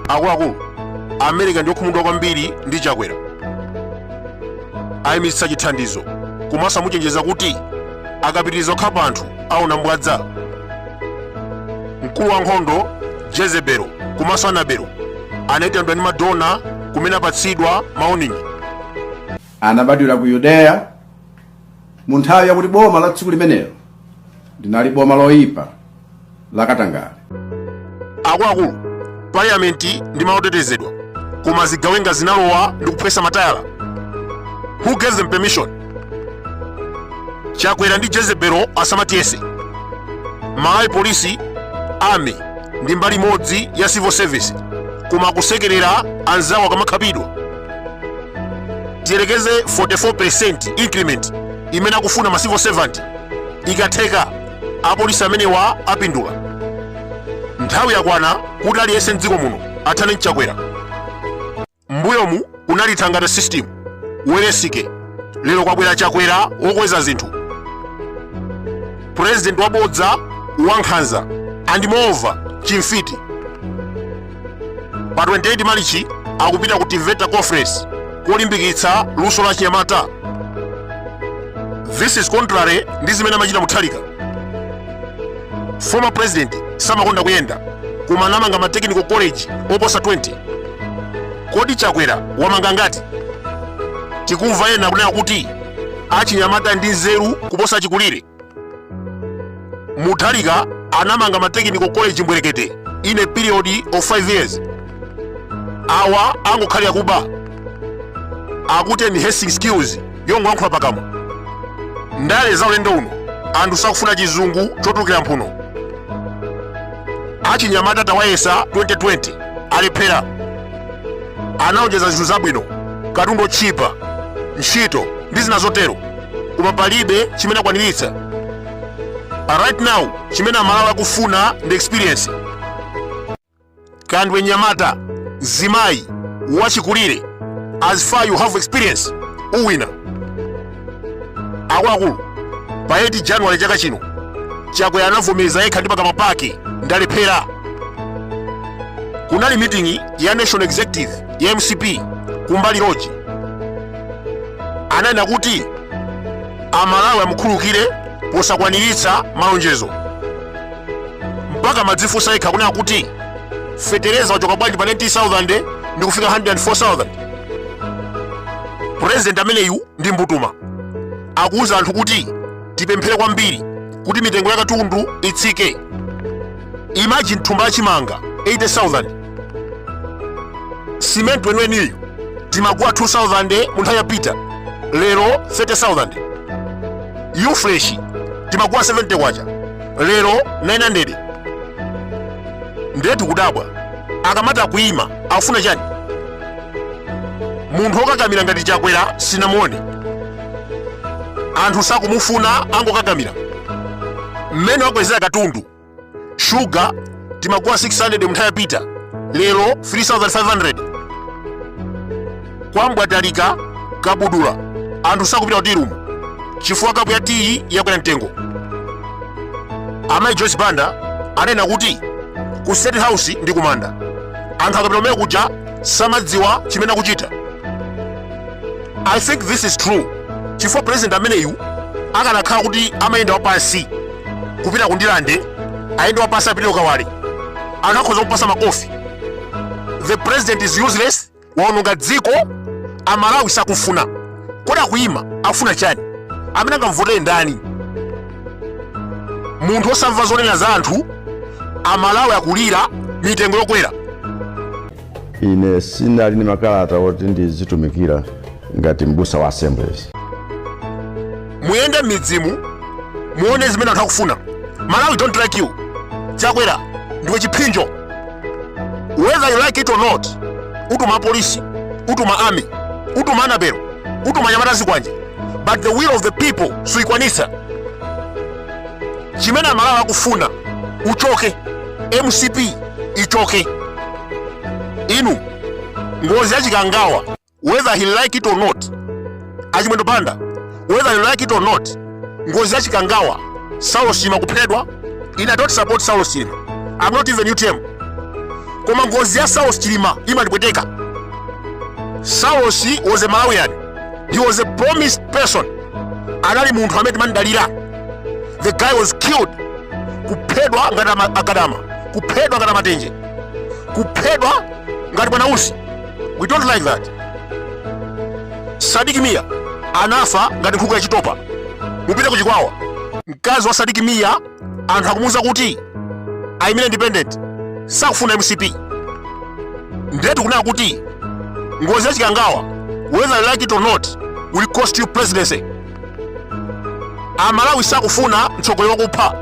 akuluakulu amerika ndi okhumudwa kwambiri ndi chakwera ayimitsa chithandizo komanso amuchenjeza kuti akapitiriza kupha anthu aona mbwadza mkulu wa nkhondo jezebelo komanso anabelo anayitanidwa ndi madona kumene apatsidwa mawoningi anabadwira ku yudeya mu nthawi yakuti boma la dziko limenelo linali boma loyipa lakatangale akuluakulu parliamenti ndi malo otetezedwa koma zigawenga zinalowa ndi kuphwesa matayala who gave them permission chakwera ndi jezebelo asamatiyese amalawi polisi army ndi mbali imodzi ya civil service koma akusekerera anzawo akamakhapidwa tiyerekeze 44 increment imene akufuna ma civil servant ikatheka Apolisi amenewa apindula. Nthawi yakwana kuti aliyense m'dziko muno athane n'chakwera. M'mbuyomu kunali thangata system, Welensky, lero kwabwera chakwera wokweza zinthu. President wabodza, wankhanza, and moreover, chimfiti. pa 28 malichi akupita ku teveta conference kolimbikitsa luso la achinyamata this is contrary ndi zimene amachita mutharika former president samakonda kuyenda koma anamanga ma technical college oposa 20 kodi chakwera wamanga angati tikumva ena kunena kuti achinyamata ndi anzeru kuposa chikulire mutharika anamanga ma technical college mbwerekete in a period of 5 years awa angokhalira kuba akuti enhancing skills yongoyankhula pakamwa ndale za ulendo uno anthu sakufuna chizungu chotulukira mphuno achinyamata tawayesa 2020 alephera analonjeza zinthu zabwino katundu otchipa ntchito ndi zina zotero koma palibe chimene akwaniritsa right now chimene amalawi akufuna ndi experience kaya ndiwe mnyamata mzimayi wachikulire as far you have experience uwina akuluakulu pa 8 january chaka chino chakwera anavomeza yekha ndi pakamwa pake ndalephera kunali miting'i ya national executive ya mcp kumbali lodge ananena kuti amalawi amukhulukire posakwaniritsa malonjezo mpaka amadzifunsa yekha kunena kuti fetereza wachoka bwanji pa 19000 ndi kufika 104000 purezidenti ameneyu ndi mbutuma akuwuza anthu kuti tipemphere kwambiri kuti mitengo ya katundu itsike imagine thumba la chimanga 80000 cement weniweniyu timagula 2000 mu nthawi yapita lero 30000 U-Fresh timagula 70 kwacha lero 900 ndiye tikudabwa akamati akuyima akufuna chani munthu okakamira ngati chakwera sinamuone anthu sakumufuna angokakamira mmene wakwezera katundu shuga timagula 600 mnthawi yapita lero 3500 kwa Mbwatalika kabudula anthu sakupita ku tea room chifukwa kapu ya tiyi yakwera mtengo amayi joyce banda adanena kuti ku state house ndi kumanda anthu akapita kumene kuja samadziwa chimene akuchita i think this is true chifukwa president ameneyu akanakhala kuti amayenda wapansi kupita ku Ndirande ayende wapansi apite ku Kawale akanakhoza kumpatsa makofi the president is useless waononga dziko amalawi sakufuna kodi akuyima akufuna chani amene angamvotere ndani munthu osamva zonena za anthu amalawi akulira mitengo yokwera ine ndili ndi makalata oti ndizitumikira ngati m'busa wa assemblies muyende m'midzimo muone zimene anthu akufuna malawi don't like you chakwera ndiwe chipsinjo whether you like it or not utuma polisi utuma army utuma a Nabelo utuma anyamata azikwanje but the will of the people suikwanitsa chimene amalawi akufuna uchoke mcp ichoke inu ngozi ya chikangawa whether he like it or not a Chimwendo Banda whether you like it or not ngozi ya chikangawa saulosi chilima kuphedwa ine i don't support saulosi chilima i'm not even utm koma ngozi ya saulosi chilima imandipweteka saulosi was a malawian he was a promised person anali munthu amene timamdalira the guy was killed kuphedwa ngati a Gadama kuphedwa ngati a Matenje kuphedwa ngati a Bwanausi we don't like that sadiki miya anafa ngati nkhuku ya chitopa mupite ku chikwawa mkazi wa sadiki miya anthu akumuuza kuti ayimire independent sakufuna mcp ndiye tikunena kuti ngozi ya chikangawa whether you like it or not will cost you presidency amalawi sakufuna mtsogoleri wakupha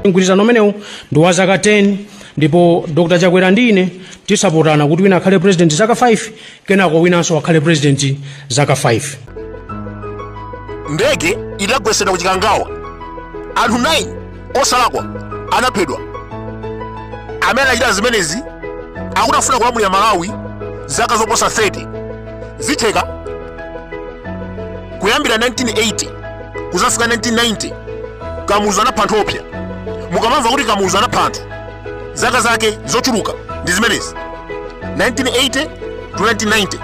mgwirizano umenewu ndi wa zaka 10 ndipo dr chakwera ndi ine tisapotana kuti wina akhale president zaka 5 kenako winanso akhale president zaka 5 ndege idagwetsedwa ku chikangawa anthu 9 osalakwa anaphedwa amene anachita zimenezi akuti afuna kulamulira malawi zaka zoposa 30 zitheka kuyambira 1980 kuzafika 1990 kamuzu anapha anthu oopsa mukamamva kuti kamuzu anapha anthu zaka zake zochuluka ndi zimenezi 1980 to 1990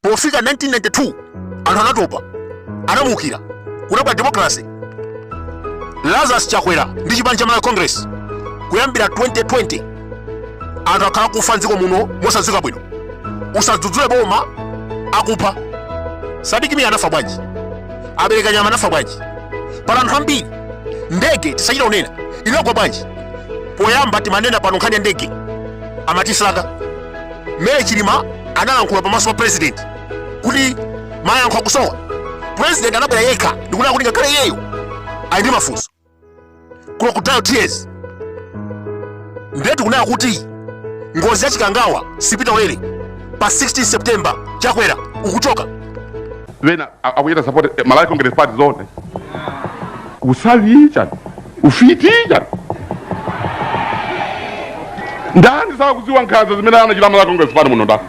pofika 1992 anthu anatopa anamuukira kunabwera democracy lazarus chakwera ndi chipani cha malawi congress kuyambira 2020 anthu akhala akufa mdziko muno mosadziwika bwino usadzudzule boma akupha Sadik Mia anafa bwanji a Bereka Nyama anafa bwanji pali anthu ambiri ndege tisachita kunena inagwa bwanji poyamba timanena pano nkhani ya ndege amatisaka Mary Chilima analankhula pamaso pa president kuti mayankho akusowa president anabwera yekha ndikunena kuti ngakhale iyeyo ali ndi mafunso crocodile tears ndiye tikunena kuti ngozi ya chikangawa sipita ulere pa 16 september chakwera ukuchoka wina a- akuchita support eh, malawi congress party zoona usavi chani ufiti chani ndani sakuziwa nkhanza zimene anachita malawi congress party muno ndani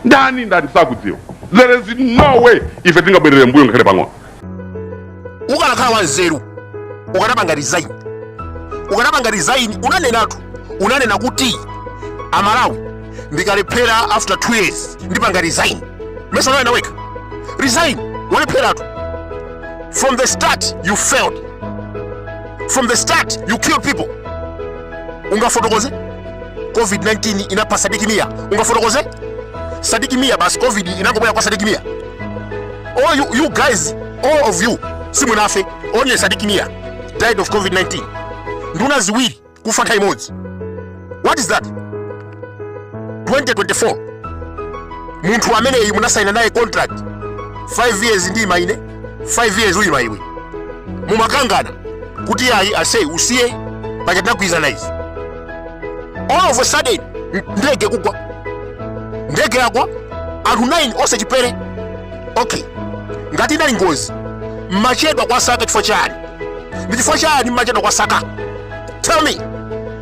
ndani ndani sakudziwa there is no way ife tingabwerere mbuyo ngakhale pang'ono ukanakhala wanzeru ukanapanga resign ukanapanga resign unanenatu unanena kuti amalawi ndikalephera after 2 years ndipanga resign mesa unanena wekha resign walepheratu from the start you failed from the start you killed people ungafotokoze covid-19 inapha sadiki mia ungafotokoze sadiki mia basi covid inangobwera kwa sadiki mia all you, you guys all of you simunafe only sadiki mia died of covid-19 nduna ziwiri kufa nthawi imodzi what is that 2024 munthu ameneyu munasayina naye contract 5 years ndiima ine 5 years uyima iwe mumakangana kuti ayi asee usiye paja tinagwirizana izi all of a sudden n- ndege kugwa ndege yagwa anthu 9 onse chipere okay ngati inali ngozi mmachedwa kwa saka chifukwa chani ndi chifukwa chani mmachedwa kuwasaka tell me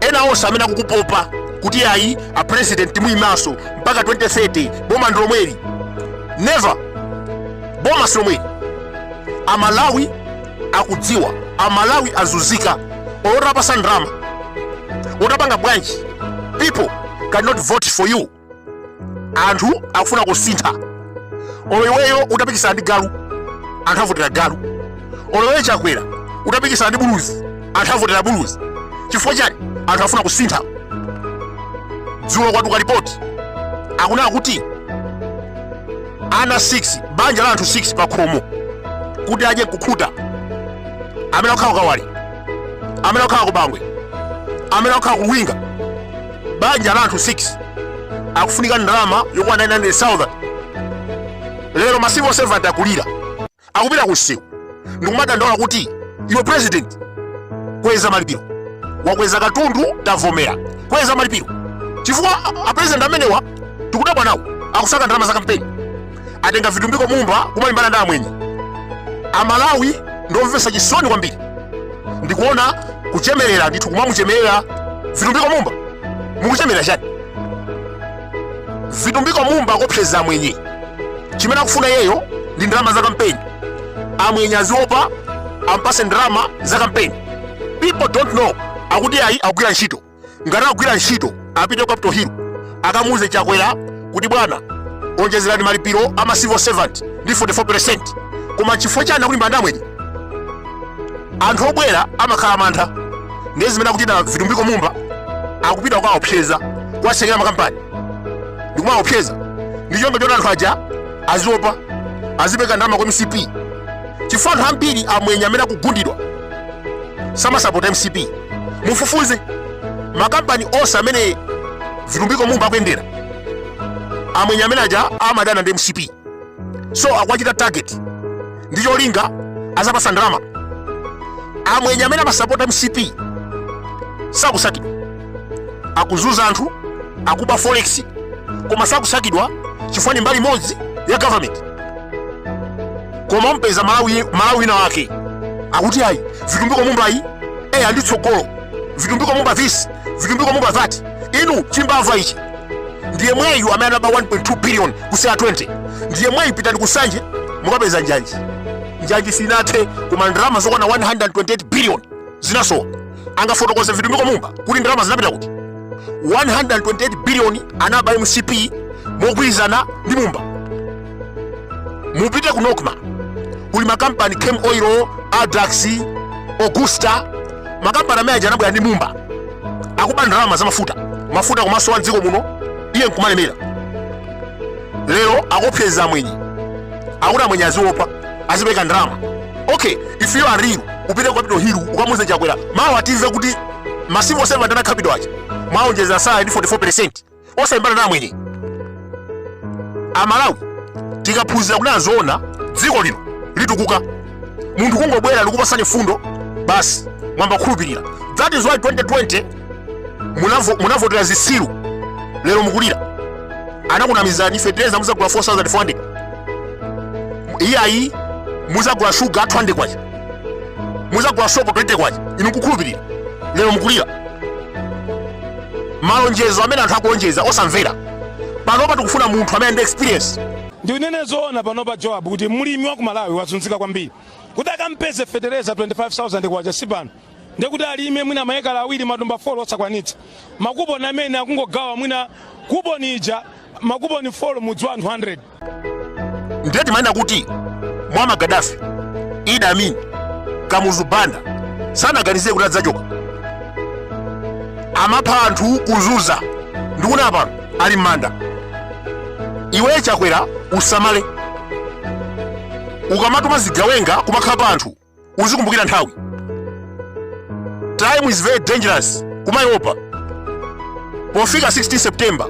ena onse amene akukupopa kuti ayi a president muyimanso mpaka 2030 boma ndi lomweli never boma si lomweli amalawi akudziwa amalawi azunzika olo utapatsa ndalama olo utapanga bwanji people cannot vote for you anthu akufuna kusintha olo iweyo utapikisana ndi galu anthu avotera galu olo iweyo chakwera utapikisana ndi buluzi anthu avotera buluzi chifukwa chani anthu afuna kusintha dzulo kwatuluka ripoti akunena kuti ana 6 banja la anthu 6 pa khomo kuti adye kukhuta amene akukhala kukawale amene akukhala kubangwe amene akukhala kuluwinga banja la anthu 6 akufunika ndalama yokwana 900,000 lero ma civil servant akulira akupita ku msewu ndikumadandaula kuti iwe president kweza malipiro wakweza katundu tavomera kweza malipiro chifukwa apresident amenewa tikudabwa nawo akusaka ndalama za kampeni atenga vitumbiko mumba kumalimbana ndi amwenye amalawi ndiomvetsa chisoni kwambiri ndikuona kuchemerera ndithu kumamuchemerera vitumbiko mumba mukuchemerera chani vitumbiko mumba akopseza amwenye chimene akufuna iyeyo ndi ndalama za kampeni amwenye aziopa ampase ndalama za kampeni people don't know akuti ayi akugwira ntchito ngati akugwira ntchito apite ku capital hill akamuuze chakwera kuti bwana onjezerani malipiro ama civil servant ndi 44 koma chifukwa chani akulimbana ndi amwenye anthu obwera amakhala amantha ndiye zimene akuchita vitumbiko mumba akupita kukaopseza kuwatsekera makampani ndikumaopseza ndi cholinga choti anthu aja aziopa azipereka ndalama kwa mcp chifukwa anthu ambiri amwenye amene akugundidwa samasapota mcp mufufuze makampani onse amene vitumbiko mumba akuyendera amwenye amene aja amadana ndi mcp so akuwachita target ndi cholinga azapasa ndalama amwenye amene amasapota mcp sakusakidwa akuzunza anthu akuba forex koma sakusakidwa chifukwa ni mbali imodzi ya government koma umpeza mmalawi wina wake akuti ayi vitumbiko mumba iyi eyi ali ndi tsogolo vitumbiko mumba this vitumbiko mumba that inu chimbava ichi ndi yemweyu amene anaba 1.2 billion ku cr 20 ndi yemweyu pitani kunsanje mukapeza njanji njanji sinathe koma ndalama zokwana 128 billion zinasowa angafotokoze vitumbiko mumba kuti ndalama zinapita kuti 128 biliyoni anaba mcp mogwirizana ndi mumba mupite ku nocma kuli makampani camel oil addax augusta makampani amene aja anabwera ndi mumba akuba ndalama za mafuta mafuta kumasowa mdziko muno iye nkumalemera lero akopseza amwenye akuti amwenye aziopa azipeka ndalama okay if you are real upite ku Capital Hill ukamuze chakwera mawu atimve kuti ma civil servant aku Capital aja mwaonjeza salary ndi 44% osayimbana na amwenye amalawi tikaphunzira kuti azoona dziko lino litukuka munthu kungobwera nkupatsani mfundo basi mwayamba kukhulupirira that is why 2020 Munavo- munavotera zitsiru lero mukulira anakunamizani fetereza muzagula 4400 iyayi muzagula shuga 200 kwacha muzagula sopo 20 kwacha inu nkukhulupirira lero mukulira malonjezo amene anthu akulonjeza osamvera panopa tikufuna munthu amene ali ndi experience ndinene zoona pano pa joab kuti mlimi wa ku malawi wazunzika kwambiri kuti akampeze fetereza 25000 kwacha si pano ndekuti alime mwina maekala awiri matumba 4 osakwanitsa makuponi amene akungogawa mwina kuponi ija makuponi 4 mudzi wa anthu 100 ndiye timanena kuti muammar gaddafi idi amin kamuzu banda sanaganizire kuti adzachoka amapha anthu kuzunza ndikuna pano ali m'manda iwe chakwera usamale ukamatuma zigawenga kumakhapa anthu uzikumbukira nthawi time is very dangerous kumaiopa pofika 16 september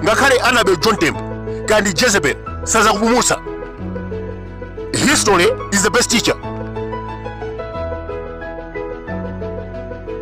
ngakhale anabel john tembo kaya ndi jezebel sazakupumutsa history is the best teacher